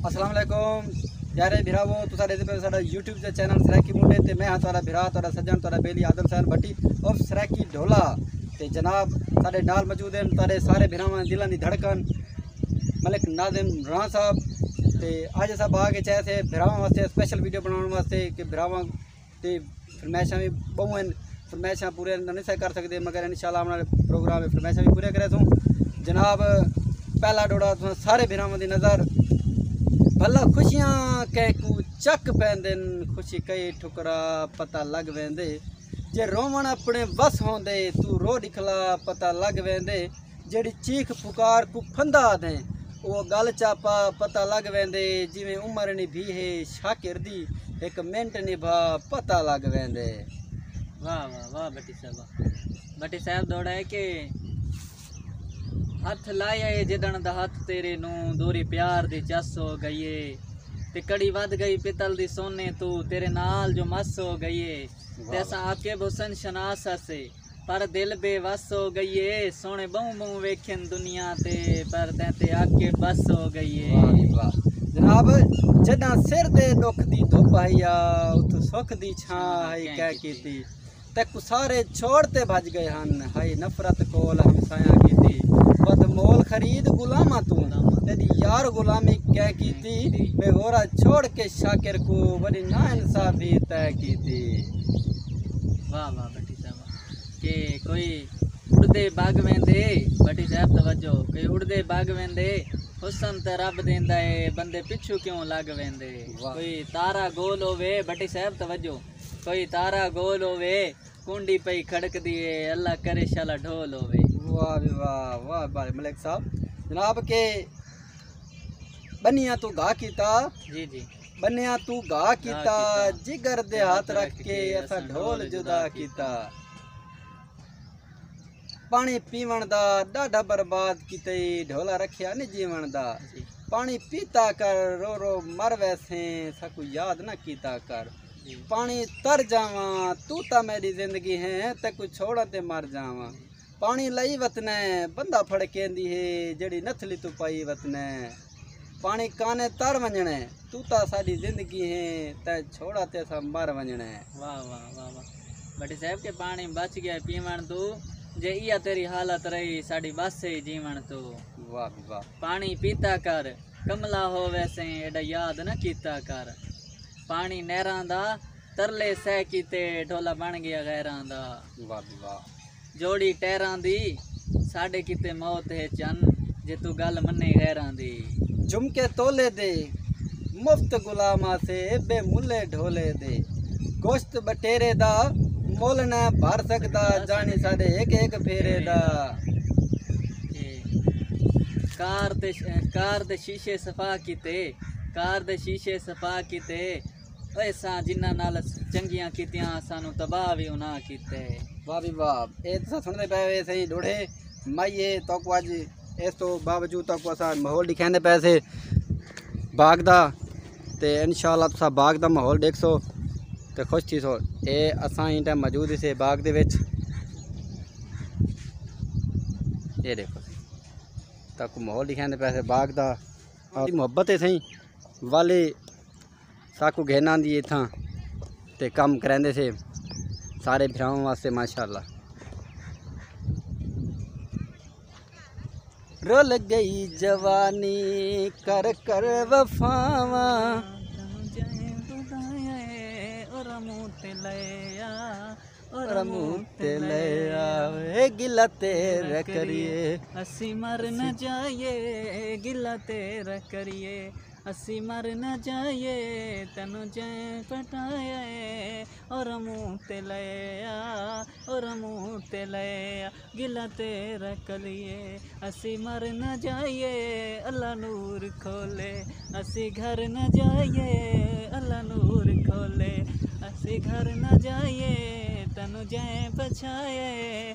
السلام علیکم پیارے بھراو تسا دیکھتے پہ ساڈا یوٹیوب تے چینل سرائیکی مونڈے تے میں ہاں تہاڈا بھرا تہاڈا سجن تہاڈا بیلی آدم سائن بھٹی اور سرائیکی ڈھولا تے جناب ساڈے نال موجود ہیں تہاڈے سارے بھراواں دلاں دی دھڑکن ملک ناظم راں صاحب تے آج اسا باغ اچ آئے سے بھراواں واسطے اسپیشل ویڈیو بناون واسطے کہ بھراواں تے فرمائشاں وی بہوں ہیں فرمائشاں پورے نہیں سے کر سکدے مگر انشاءاللہ ہم نے پروگرام فرمائشاں وی پورے کرے سوں جناب پہلا ڈوڑا تساں سارے بھراواں دی نظر بھلا خوشیاں کہے کو چک پیندن خوشی کئی ٹھکرا پتہ لگ ویندے جے روون اپنے وس ہوندے تو رو دکھلا پتہ لگ ویندے جیڑھی چیخ پکار کوں پھندا آدھیں او گل چا پا پتہ لگ ویندے جیویں عمر نی بھی ہے شاکر دی ہک منٹ نی بھا پتہ لگ ویندے واہ واہ واہ بٹی صاحب بٹی صاحب دوڑا ہے کہ ہتھ لائے آئے جدن دا ہتھ تیرے نو دوری پیار دی چس ہو گئی ہے تے کڑی ود گئی پتل دی سونے تو تیرے نال جو مس ہو گئی ہے تے اساں عاقب حسن شناس ہسے پر دل بے وس ہو گئی اے سونے بہوں بہوں ویکھن دنیا تے پر تیں تے آ کے بس ہو گئی اے واہ جی واہ جناب جڈاں سر دے دکھ دی دھوپ ہئی آ اتھوں سکھ دی چھاں ہئی کہہ کیتی تے کسارے چھوڑ تے بھج گئے ہن ہئی نفرت کول ہمسایاں کیتی بد مول خرید غلاماں توں تیری یار غلامی کہہ کیتی بے ہورا چھوڑ کے شاکر کو وڈی نا انصافی طے کیتی واہ واہ کہ کوئی اڑدے بھگ ویندے بھٹی صاحب توجہ کوئی اڑدے بھگ ویندے حسن تے رب دیندا اے بندے پچھو کیوں لگ ویندے کوئی تارا گول ہووے بھٹی صاحب توجہ کوئی تارا گول ہووے کونڈی پئی کھڑک دی اے اللہ کرے شالا ڈھول ہووے واہ وی واہ واہ بھائی ملک صاحب جناب کے بنیاں تو گا کیتا جی جی بنیا تو گا کیتا جگر دے ہاتھ رکھ کے اسا ڈھول جدا کیتا پانی پیون دا ڈاڈھا برباد کیتے ڈھولا رکھیا نہیں جیون دا جی۔ پانی پیتا کر رو رو مر ویسے سکو یاد نہ کیتا کر جی۔ پانی تر جاواں تو تا میری زندگی ہے تے کو چھوڑا تے مر جاواں پاݨی لئی وتنے بندہ پھڑکیندی ہے جیڑھی نتھلی توں پائی وتنے پاݨی کانے تر ونجنے تو تا ساڈی زندگی ہے تے چھوڑا تے اسا مر ونجنے واہ واہ واہ واہ بٹی صاحب کے پاݨی بچ گیا پیون تو جے ایا تیری حالت رہی ساڈی بس سے جیون تو واہ واہ پاݨی پیتا کر کملا ہو ویسے ایڈا یاد نہ کیتا کر پاݨی نیراں دا ترلے سہ کیتے ڈھولا بن گیا غیراں دا واہ واہ جوڑی ٹیراں دی ساڈے کیتے موت ہے چن جے توں گل منیں غیراں دی۔ جھمکے تولے دے مفت غلام آسے بے ملے ڈھولے دے گوشت بٹیرے دا مل نہ بھر سکدا جانی ساڈے ہک ہک پھیرے دا۔ کار دے شیشے صفا کیتے کار دے شیشے صفا کیتے۔ اساں جنہاں نال چنگیاں کیتیاں اساں نوں تباہ وی انہاں کیتے۔ واہ وی واہ اے تساں سنڑدے پئے ہوئے سئیں ڈوہڑے مائیے توکو اج اس توں باوجود توکو اساں ماحول ڈکھیندے پئے سے باغ دا تے انشاءاللہ تساں باغ دا ماحول ڈیکھسو تے خوش تھیسو اے اساں ایں ٹائم موجود ہیسے باغ دے وچ اے ڈیکھو توکو ماحول ڈکھیندے پئے سے باغ دا محبت ہے سئیں والے ساکو گھن آندی ہے اتھاں تے کم کریندے سے سارے بھراواں واسطے ماشاءاللہ رول گئی جوانی کر کر وفاواں گلا تیرا کریے اسی مر نہ جائیے گلا تیرا کریے اسیں مر نہ جائیے تینوں جئیں پٹایا ہے او رمو تے لئے آ او رمو تے لئے آ گلہ تیرا کریے اسیں مر نہ جائیے اللہ نور کھولے اسیں گھر نہ جائیے اللہ نور کھولے اسیں گھر نہ جائیے تینوں جئیں پچھایا ہے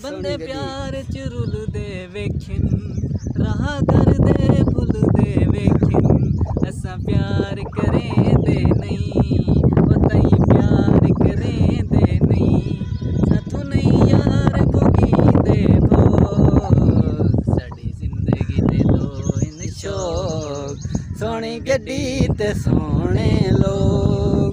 بندے پیار اچ رل دے ویکھن راہ در دے بھل دے ویکھن اساں پیار کریں دے نئیں او تئیں پیار کریں دے نئیں ساتھو نئیں یار بھگیندے بھو ساڈی زندگی دے دو ہن شوق سوہنی گڈی تے سوہنے لوگ